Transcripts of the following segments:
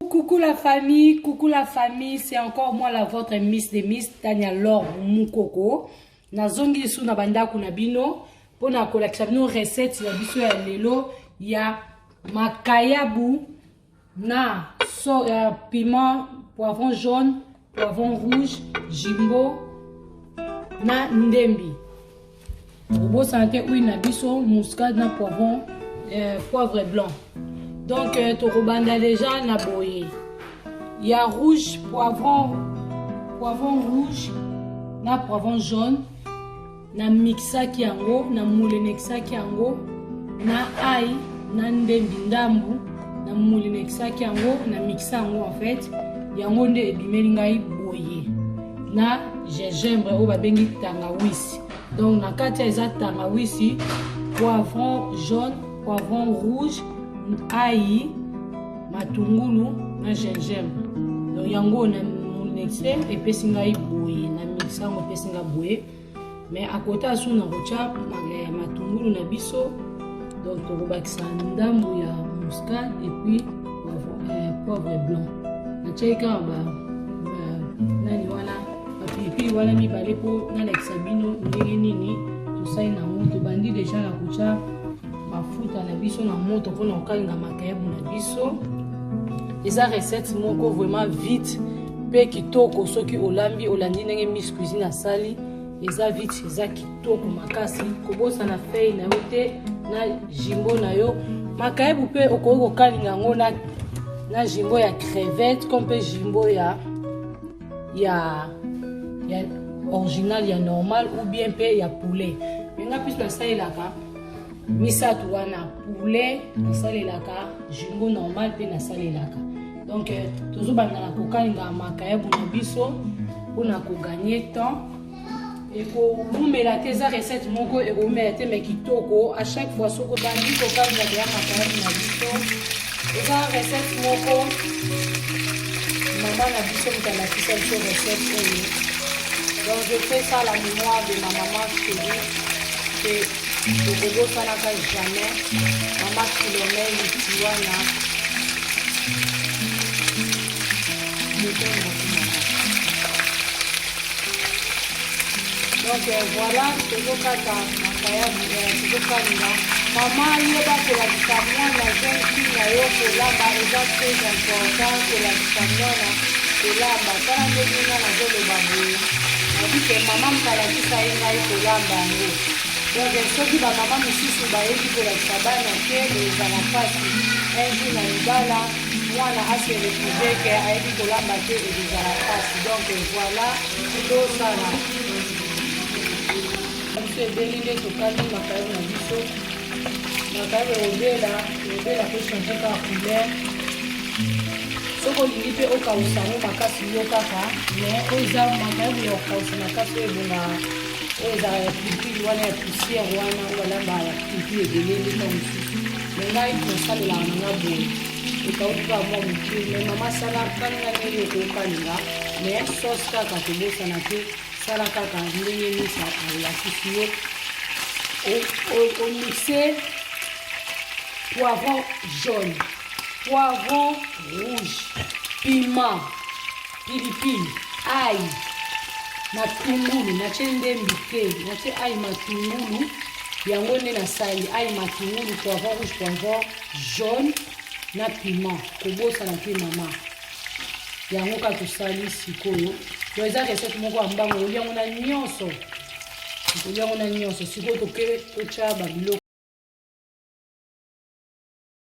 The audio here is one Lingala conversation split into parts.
Coucou la famille, coucou la famille, c'est encore moi la votre Miss des Miss, Tania Laure Mukoko. Nazongi sous na bandako na bino, pona kolakisa bino recette ya biso ya lelo ya makayabu na so, uh, piment poivron jaune poivron rouge jimbo na ndembi obosana te huile na biso muscade na poivron euh, poivre blanc donc euh, tokobanda deja na boye ya rouge poivron poivron rouge na poivron jaune Na mixaki yango, na mulenekisaki yango na ai na ndembi ndambu, na mulenekisaki yango, na mixa yango en fait. Yango nde ebimeli ngai boye na gingembre oyo babengi tangawisi. Donc na kati ya eza tangawisi, poivron jaune, poivron rouge, ayi, matungulu na gingembre. Donc yango na munexe epesi ngai boye na mixa yango epesi ngai boye. mais à côté ya suna kotya eh, matungulu na biso donc tokobakisa ndambo ya muscade epuis poivre eh, blanc natyaki kaka ba nani wana bapilipili wana mibale mpo nalakisa bino ndenge nini tosali nango tobandi deja na kotya mafuta na biso na moto mpona kokalinga makayabu na biso eza recette moko vraiment vite mpe kitoko soki olambi olandi ndenge miss cuisine asali eza vite eza kitoko makasi kobosana fei na yo te na jimbo na yo makayabu mpe okoki kokalinga yango na, na jimbo ya crevette ko mpe jimbo ya ya, ya original ya normal ou bien mpe ya poulet menga mpe nasalelaka misato wana poulet nasalelaka jumbo normal mpe nasalelaka donc euh, tozobanda na kokalinga makayabu na biso mpona koganye temps ekowumela te eza recette moko ekowumela te mai kitoko a chaque fois soko bandi kokalinga deya makayabu na biso eza recette moko mama na biso moto alakisa biso recette oyo donc je fais ça la mémoire de ma maman chérie mpe tokobosanaka jamais mama filomene tiwana donc euh, voilà tozokata makayabu euh, tozokalinga mama yo bakolakisa mwana jeune fille na yo kolamba eza très important kolakisa mwana kolamba tala ndenge nga nazoloba boye nabike mama mkalaki Ngai ngai kolamba yango donc soki bamama mosusu bayebi kolakisa bana te ezala mpasi un jour na libala mwana ase retrouve ke ayebi kolamba te ekozala mpasi donc voilà tosala biso ebeli nde tokangi makayo na biso makayo obela obela pe change kaka couleur soki olingi mpe okausa yango makasi yo kaka me oyo eza makayabu ya kokausa makasi oyo ebonga oyo ezala ya pilipili wana ya poussière wana oyo balamba ya pilipili ebele ndeta mosusu me ngai nasalelaka na nga boye ekauki kaka mwa moke me mama sala kalinga ndenge okokalinga me sauce kaka tobosana te sala kaka ndenge misa alakisi yo omixe poivron jaune poivron rouge, piment, pilipili, ail, matungulu. Natie nde mbike, natie ail matungulu yango nde nasali ail matungulu, poivron rouge, poivron jaune na piment. Kobosana te mama, yango kaka tosali sikoyo. Donc eza recette moko ya mbango, okolia yango na nyonso, okolia yango na nyonso. Sikoyo toke totya babiloko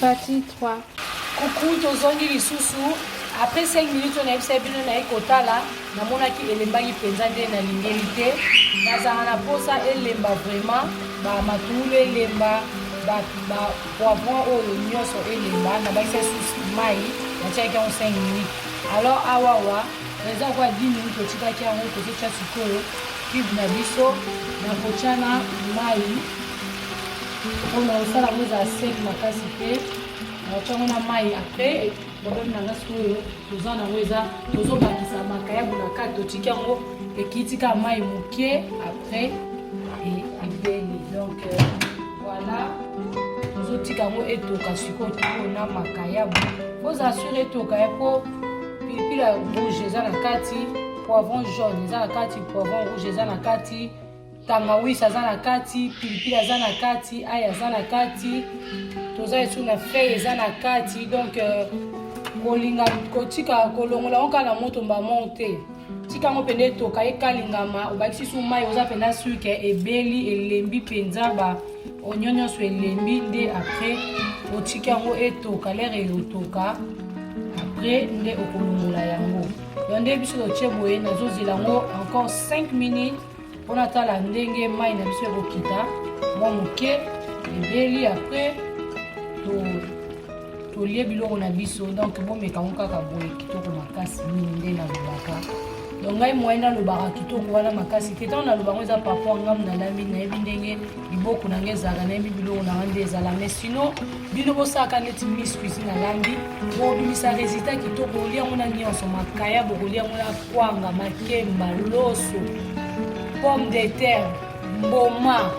Partie 3. Coucou, tozongi lisusu. Après 5 minutes, on a eu bino na ekotala. Namonaki elembaki mpenza nde nalingeli te. Nazala na posa elemba vraiment. Ba matulu elemba, ba ba poivron oyo nyonso elemba. Nabakisa susu mai, natiaki yango 5 minutes. Alors awa wa eza kwa 10 minutes totikaki yango tozotya sikoyo cube na biso na kotyana mai oyo nakosala yango ezala sec makasi te nakotiango na mai après problème na nga sikoyo toza nango eza tozobakisa makayabu na kati totiki yango ekiti kaka mai moke après ebeli donc euh, voilà tozotika yango etoka sikoyo toko na makayabu ozala sur etoka ya po pilipili ya rouge eza na kati poivron jaune eza na kati poivron rouge eza na kati tangawisi aza na kati pilipili aza na kati ai aza na kati toza esu na fei eza na kati donc euh, kolinga kotika kolongola yango kaka na moto mbamo te tika yango mpenza etoka ekalingama obakisi su mai oza mpenza suke ebeli elembi mpenza ba onio nyonso elembi nde apres otika yango etoka lere eotoka apres nde okolongola yango yo nde biso totie boye nazozela yango encore 5 minutes mpo natala ndenge mai na biso ekokita mwa moke ebeli apres tolie biloko na biso donk bomeka yango kaka boye kitoko makasi mingi nde nalobaka donc ngai moye nalobaka kitoko wana makasi te ntango naloba yango eza paraport ngamu nalambi nayebi ndenge liboko na ngai ezalaka nayebi biloko na ngai nde ezala mais sinon bino bosalaka neti miss cuisine alambi bobimisa resultat kitoko olia yango na nyonso makaya bokolia yango na kwanga makemba loso pomme de terre mboma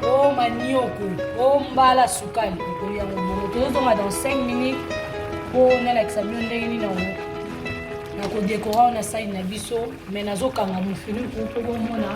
o oh, manioko o oh, mbala sukali okolia yango bongo tozozonga dans 5 minutes mpo nalakisa bino ndenge nini yango nakodekora wana sani na biso me nazokanga mofiniku mpo bomona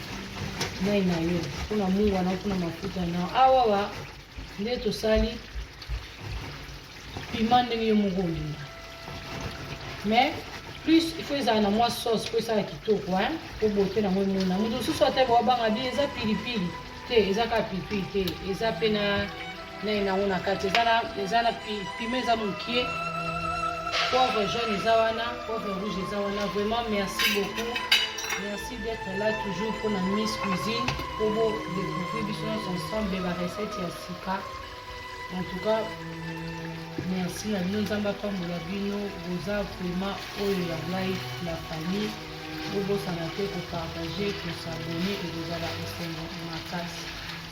mai na yo mpo na mungwa na mpo na mafuta na awawa nde tosali pima ndenge yo moko olinga mais plus il faut ezala na mwa sauce mpo esala kitoko hein mpo bote nango emona moto mosusu ata bawabanga bi eza pilipili te eza kaka pilipili te eza mpe na naye nango na kati eza na eza na pima eza mokie poivre jaune eza wana poivre rouge eza wana vraiment merci beaucoup merci d'être là toujours mpo na miss cuisine mpo bo découvrir biso nyonso ensemble ba recette ya sika en tout cas merci na bino nzambe apambola bino boza vraiment oyo ya ngai la famille bobosana te kopartage kosabone ekozala esengo makasi